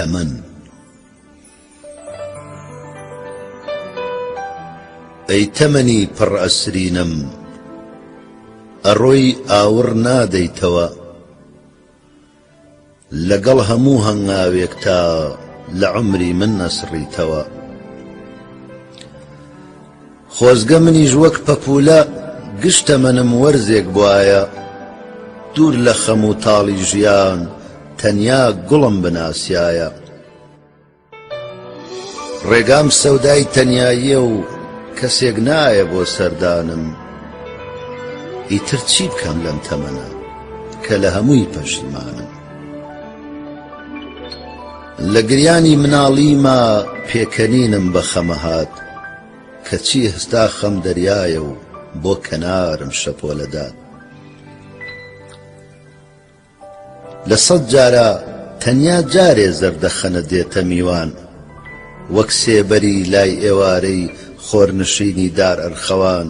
تەمەن ئەی تەمەنی پڕ ئەسرینم ئەڕۆی ئاوڕ نادەیتەوە لەگەڵ هەموو هەنگاوێک تا لە عمری من نەسڕیتەوە خۆزگە منیش وەک پەپولە گشت تەمەنم وەرزێک بوایە دوور لە خەم و تاڵی ژیان تەنیا گوڵم بناسیایە ڕێگام سەودای تەنیاییە و کەسێک نایە بۆ سەردانم ئیتر چی بکەم لەم تەمەنە کە لە هەمووی پەشیمانم لە گریانی مناڵیما پێکەنینم بە خەمە هات کەچی ئێستا خەم دەریایە و بۆ کەنارم شەپۆلە دات لە سەد جارا تەنیا جارێ زەردەخەنە دێتە میوان وەک سێبەری لای ئێوارەی خۆرنشینی دار ئەرخەوان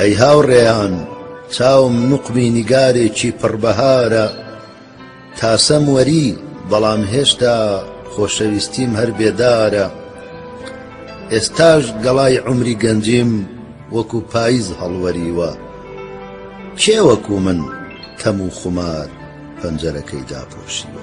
ئەی هاوڕێیان چاوم نوقمی نیگارێکی پڕ بەهارە تاسەم وەری بەڵام هێشتا خۆشەویستیم هەر بێدارە ئێستاش گەڵای عومری گەنجیم وەکو پایز هەڵوەریوە کێ وەکو من تەم و خومار پەنجەرەکەی داپۆشیوە